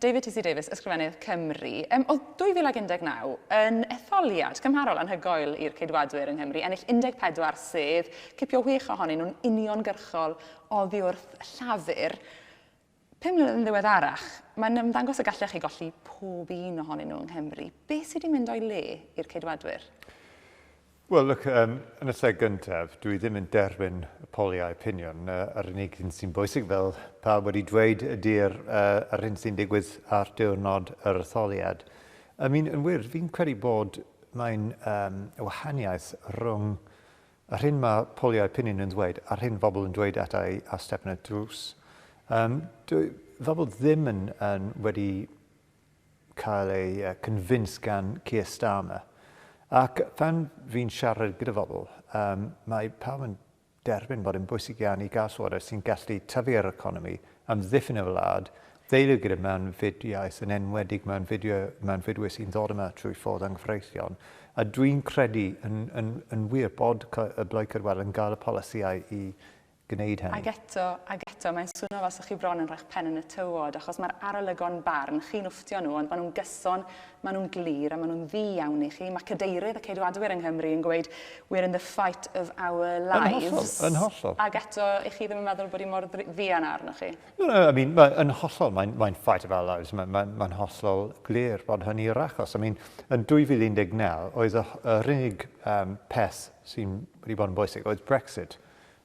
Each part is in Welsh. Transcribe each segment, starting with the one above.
David T.C. Davies, Ysgrifennydd Cymru. Um, oedd 2019 yn etholiad cymharol anhygoel i'r ceidwadwyr yng Nghymru, ennill 14 sedd, cipio wych ohonyn nhw'n uniongyrchol oddi wrth llafur. Pum mlynedd yn ddiweddarach, mae'n ymddangos y gallech chi golli pob un ohonyn nhw yng Nghymru. Be sydd wedi mynd o'i le i'r ceidwadwyr? Wel, look, um, yn y lle gyntaf, dwi ddim yn derbyn y poliau opinion. Uh, yr unig un sy'n bwysig, fel pawb wedi dweud, ydy'r uh, yr hyn sy'n digwydd ar diwrnod yr etholiad. I mean, yn wir, fi'n credu bod mae'n um, wahaniaeth rhwng yr hyn mae poliau opinion yn dweud a'r hyn bobl yn dweud at ei a step yn y drws. Um, dwi, fel bod ddim yn, yn wedi cael ei convince gan Keir Starmer. Ac pan fi'n siarad gyda phobl, um, mae pawb yn derbyn bod yn bwysig iawn i gael llywodraeth sy'n gallu tyfu yr economi, amddiffyn y wlad, ddeilio gyda mewnfudiaeth, yn enwedig mewnfudwyr sy'n ddod yma trwy ffordd anghyfreithlon. A dwi'n credu yn, yn, yn wir bod y Blaid Cydwel yn gael y polisïau i, gwneud hynny. Ac eto, ac eto, mae'n swno fel 'sa chi bron yn rhoi'ch pen yn y tywod, achos mae'r arolygon barn, chi'n wfftio nhw, ond maen nhw'n gyson, maen nhw'n glir, a maen nhw'n ddu iawn i chi. Mae cadeirydd y Ceidwadwyr yng Nghymru yn gweud, We're in the fight of our lives. Yn hollol, yn hollol. Ac eto, 'ych chi ddim yn meddwl bod hi mor fuan â arnoch chi? No, no, I mean, mae, yn hollol, mae'n, mae'n fight of our lives. Mae'n, mae'n, mae'n hollol glir bod hynny yr achos. I mean, yn 2019, oedd y, yr unig um, peth sy'n wedi bod yn bwysig oedd Brexit.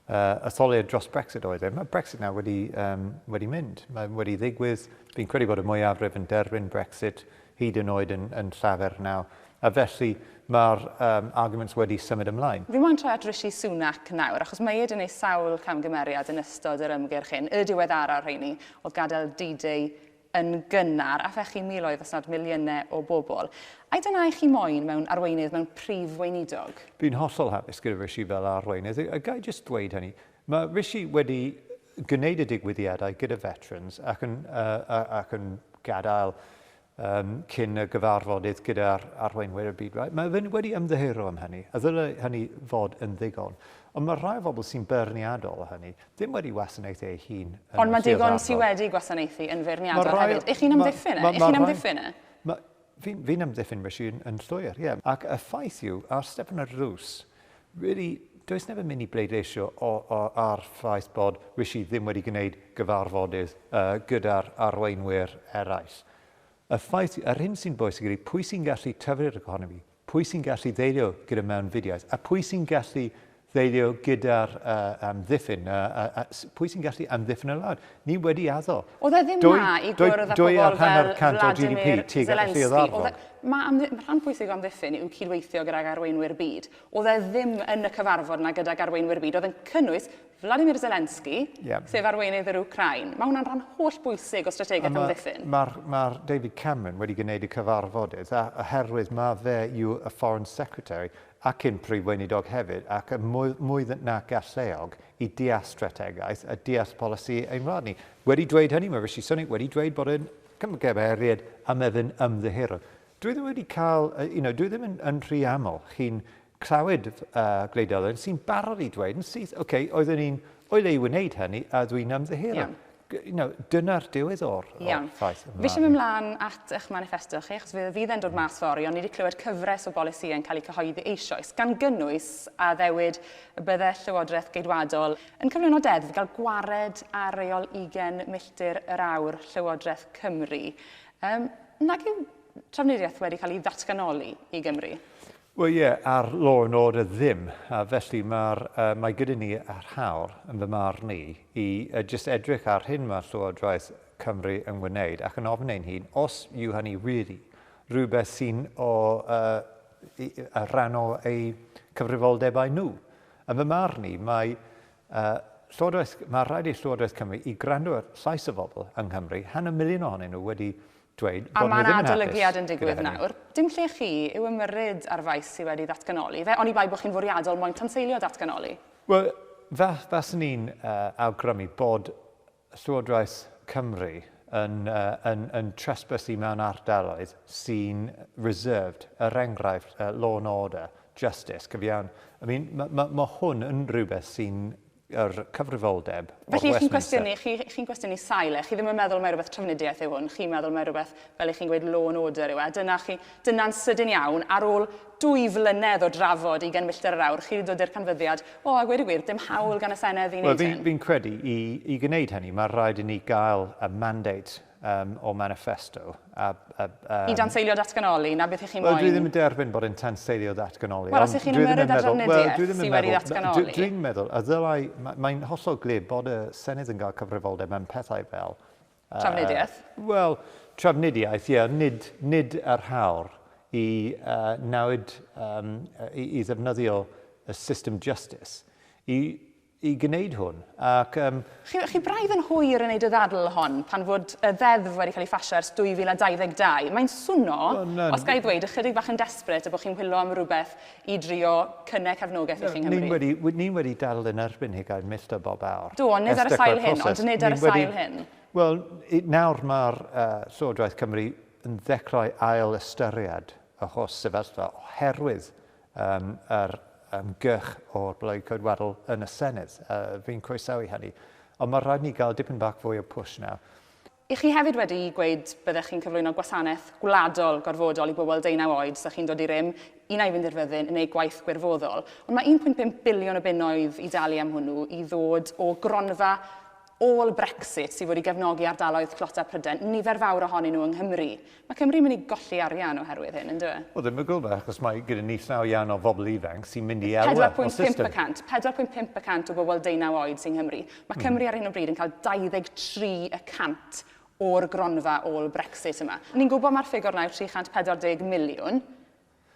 uh, etholiad dros Brexit oedd e. Mae Brexit nawr wedi, um, wedi mynd. Mae wedi ddigwydd. Fi'n credu bod y mwyafrif yn derbyn Brexit hyd yn oed yn, yn llafer nawr. A felly mae'r um, arguments wedi symud ymlaen. Fi moyn troi at Rishi Sunak nawr, achos mae ed yn ei sawl camgymeriad yn ystod yr ymgyrch hyn. Y diweddaraf rheini oedd gadael D-Day yn gynnar, a phechu miloedd os nad miliynau o bobl. Ai dyna i chi moyn mewn arweinydd, mewn prif weinidog? Fi'n hollol hapus gyda Rishi fel arweinydd, a ga i jyst dweud hynny, mae Rishi wedi gwneud y digwyddiadau gyda veterans ac yn, uh, ac yn gadael um, cyn y gyfarfodydd gyda'r arweinwyr y byd. Right? Mae fe wedi ymddiheuro am hynny, a ddylai hynny fod yn ddigon. Ond mae rhai o bobl sy'n beirniadol o hynny, ddim wedi wasanaethu ei hun yn Ond mae digon sydd wedi gwasanaethu yn feirniadol well, hefyd. Ych chi'n amddiffyn e? Ych chi'n amddiffyn e? Fi'n fi amddiffyn fy hun yn llwyr, ie. Yeah. Ac y ffaith yw, ar Stefan y Rws, really, does neb yn mynd i bleidleisio o, o, ar ffaith bod Rishi ddim wedi gwneud gyfarfodydd uh, gyda'r arweinwyr eraill. Y ffaith, yr hyn sy'n bwysig ydy pwy sy'n gallu tyfu'r economi, Pwy sy'n gallu ddelio gyda mewnfudiaeth? A pwy sy'n gallu ddelio gyda'r uh, amddiffyn? Uh, uh, uh, pwy sy'n gallu amddiffyn y wlad? Ni wedi addo. Oedd e ddim dwy, na i gwrdd â pobl fel Vladimir Zelensky. E, mae am, rhan pwysig o amddiffyn yw cydweithio gydag arweinwyr byd. Oedd e ddim yn y cyfarfod yna gydag arweinwyr byd. Oedd yn cynnwys Vladimir Zelensky, yeah. sef arweinydd yr Ukraine. Mae hwnna'n rhan holl bwysig o strategaeth amddiffyn. Mae'r ma David Cameron wedi gwneud y cyfarfodydd a, oherwydd mae fe yw y Foreign Secretary ac yn Prif Weinidog hefyd ac y mwy, mwy nac alleog i deall strategaeth a deall polisi ein rhan ni. Wedi dweud hynny, mae Rishi Sunak wedi dweud bod yn cymgymeriad am efyn ymddiheuro. Dwi ddim wedi cael, you know, dwi ddim yn, yn rhy aml chi'n clywed y gwleidyddol sy'n barod i dweud yn syth, oce, okay, oeddwn ni'n oed ei wneud hynny a dwi'n ymddiheuro. Yeah. You know, dyna'r diwedd o'r, yeah. o'r ffaith yma. Fi eisiau mynd mlaen at eich manifesto chi, achos fydd fydd e'n dod mas fori, ond ni wedi clywed cyfres o bolisi yn cael eu cyhoeddi eisoes, gan gynnwys a ddewyd y bydde Llywodraeth Geidwadol yn cyflwyno deddf gael gwared ar reol 20 milltir yr awr Llywodraeth Cymru. Um, nag yw trafnidiaeth wedi cael ei ddatganoli i Gymru? Wel ie, ar Law and Order ddim, a felly mae'r, yy, mae gyda ni yr hawl, yn fy marn i, i yy, jyst edrych ar hyn mae Llywodraeth Cymru yn wneud ac yn ofyn ein hun os yw hynny wir rhywbeth sy'n o yy, y rhan o eu cyfrifoldebau nhw. Yn fy marn i, mae yy, Llywodraeth, mae rhaid i Llywodraeth Cymru i gwrando ar llais y bobl yng Nghymru, hanner miliwn ohonyn nhw wedi dweud bod nhw ddim yn hapus gyda hynny. A mae'n adolygiad yn digwydd nawr. Dim lle chi yw ymyrryd ar faes sydd wedi datganoli fe, oni bai bod chi'n fwriadol moyn tanseilio datganoli. Wel, faswn i'n awgrymu bod Llywodraeth Cymru yn trespassu mewn ardaloedd sy'n reserved, er enghraifft, law and order, justice, cyfiawn. I mean, mae hwn yn rhywbeth sy'n yr cyfrifoldeb o Westminster. Felly, chi'n cwestiynu, chi, chi'n cwestiynu sail e, chi ddim yn meddwl mai rhywbeth trafnidiaeth yw hwn, chi'n meddwl mai rhywbeth, fel i chi'n gweud, law and order yw e, dyna chi, dyna'n sydyn iawn, ar ôl dwy flynedd o drafod ugain milltir yr awr, chi wedi dod i'r canfyddiad, o, a gweud y gwir, dim hawl gan y Senedd i wneud hyn. Wel, fi'n credu, i, i gwneud hynny, mae rhaid i ni gael y mandate um, or manifesto. A, a, um, I danseilio datganoli, na beth ych chi'n well, moyn? Dwi ddim yn derbyn bod yn tanseilio datganoli. Wel, os ych chi'n ymwneud â drafnidiaeth well, sy'n wedi ddatganoli. Dwi'n dwi meddwl, a ddylai, mae'n mae hollol glir bod y Senedd yn cael cyfrifoldeb mewn pethau fel... Uh, trafnidiaeth? Wel, trafnidiaeth, ie, yeah, nid, nid yr hawr i uh, nawd um, i, i ddefnyddio y system justice i i gwneud hwn, ac yym. Chi, chi braidd yn hwyr yn wneud y ddadl hon, pan fod y ddeddf wedi cael ei phasio ers 2022. Mae'n swno, os ga i ddweud, ychydig bach yn desperate y bod chi'n whilo am rywbeth i drio cynne cefnogaeth i chi yng Nghymru. Ni wedi, ni wedi dadl yn erbyn hi, ga i milltir bob awr. Do, ond nid ar y sail hyn, ond nid ar y sail hyn. Wel, nawr mae'r uh, Llywodraeth Cymru yn ddechrau ail ystyried y holl sefyllfa oherwydd Yym, yr ymgyrch o'r Blaid Coedwarol yn y Senedd. Yy, fi'n croesawu hynny. Ond mae rhaid ni gael dipyn bach fwy o push nawr. Y'ch chi hefyd wedi gweud byddech chi'n cyflwyno gwasanaeth gwladol gorfodol i bobl deunaw oed 'sa chi'n dod i rym, un ai i fynd i'r fyddin neu gwaith gwirfoddol. Ond mae 1.5 biliwn o bunnoedd i dalu am hwnnw i ddod o gronfa ôl Brexit sydd wedi gefnogi ardaloedd tlotau Prydain, nifer fawr ohonyn nhw yng Nghymru. Mae Cymru'n mynd i golli arian oherwydd hyn, yn dyw e? Wel, ddim o gwbl, achos mae gyda ni llaw iawn o bobl ifanc sy'n mynd i elwa o'r system. 4.5 y cant, 4.5 y cant o bobl deunaw oed sy'n Nghymru. Mae Cymru ar hyn o bryd yn cael 23 y cant o'r gronfa ôl Brexit yma. Ni'n gwybod mai'r ffigwr yna yw 340 miliwn,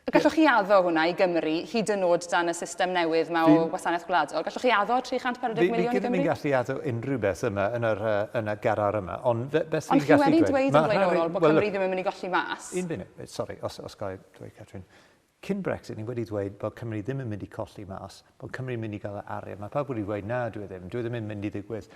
A gallwch chi addo hwnna i Gymru, hyd yn oed dan y system newydd yma o wasanaeth gwladol? Gallwch chi addo 340 miliwn i Gymru? Fi ddim yn gallu addo unrhyw beth yma yn yr, uh, yn y garar yma, ond fe, beth fi'n gallu dweud... Ond chi wedi dweud yn blaenorol bod Cymru ddim yn mynd i golli mas. Un funud, eh, sori, os, os gael dweud, Catrin. Cyn Brexit, ni wedi dweud bod Cymru ddim yn mynd i colli mas, bod Cymru'n mynd i gael y arian. Mae pawb wedi dweud, na, dwi e ddim, dwi e ddim yn mynd i ddigwydd.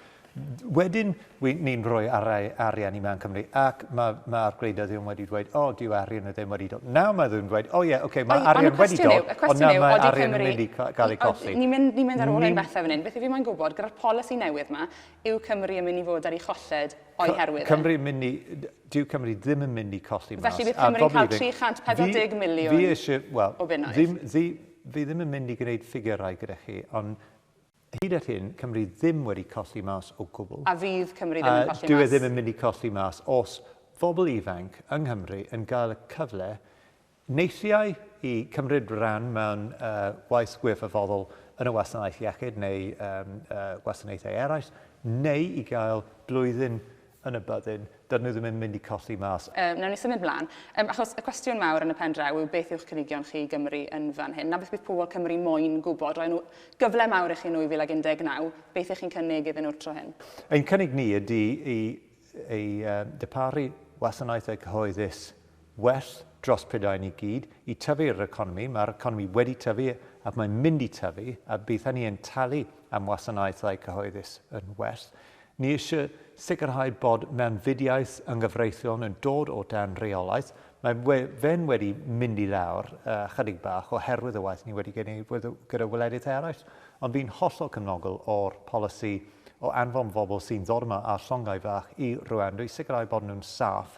Wedyn, ni'n rhoi arau arian i mewn Cymru, ac mae'r ma, ma gwleidyddion wedi dweud, o, oh, dyw arian ddim wedi dod. Nawr mae ddim dweud, o oh, ie, yeah, okay, mae arian wedi dod, ond nawr mae arian yn mynd i gael ei colli. Ni'n mynd, ni mynd ar ôl ein bethau fan hyn. Beth i fi mae'n gwybod, gyda'r polisi newydd yma, yw Cymru yn mynd i fod ar ei cholled o'i herwydd? Cymru yn mynd i, dyw Cymru ddim yn mynd i colli mas. Felly bydd Cymru'n cael 340 miliwn o bunnoedd? Fi eisiau, wel, ddim, ddim, Fi ddim yn mynd i gwneud ffigyrau gyda chi, ond hyd at hyn, Cymru ddim wedi colli mas o gwbl. A fydd Cymru ddim yn colli mas? Dyw e ddim yn mynd i colli mas os bobl ifanc yng Nghymru yn gael y cyfle neithiau i cymryd rhan mewn uh, waith gwirfoddol yn y wasanaeth iechyd neu um, uh, gwasanaethau eraill, neu i gael blwyddyn yn y byddin, dydyn nhw ddim yn mynd i colli mas. Yy, wnawn ni symud mlaen. Yym, achos y cwestiwn mawr yn y pen draw yw beth yw'ch cynigion chi i Gymru yn fan hyn? Na beth bydd pobl Cymru moyn gwybod. Roedd nhw gyfle mawr i chi yn 2019. Beth ych chi'n cynnig iddyn nhw'r tro hyn? Ein cynnig ni ydy i, i uh, dyparu wasanaethau cyhoeddus well dros Prydain ni gyd i tyfu'r economi. Mae'r economi wedi tyfu ac mae'n mynd i tyfu a bydd hynny yn talu am wasanaethau cyhoeddus yn well. Ni eisiau sicrhau bod mewnfudiaeth yng nghyfreithiol yn dod o dan reolaeth. Mae we, fe'n wedi mynd i lawr uh, chydig bach oherwydd y waith ni wedi gwneud gyda wledydd eraill, ond fi'n hollol cymnogol o'r polisi o anfon bobl sy'n ddod yma â llongau fach i Rwanda i sicrhau bod nhw'n saff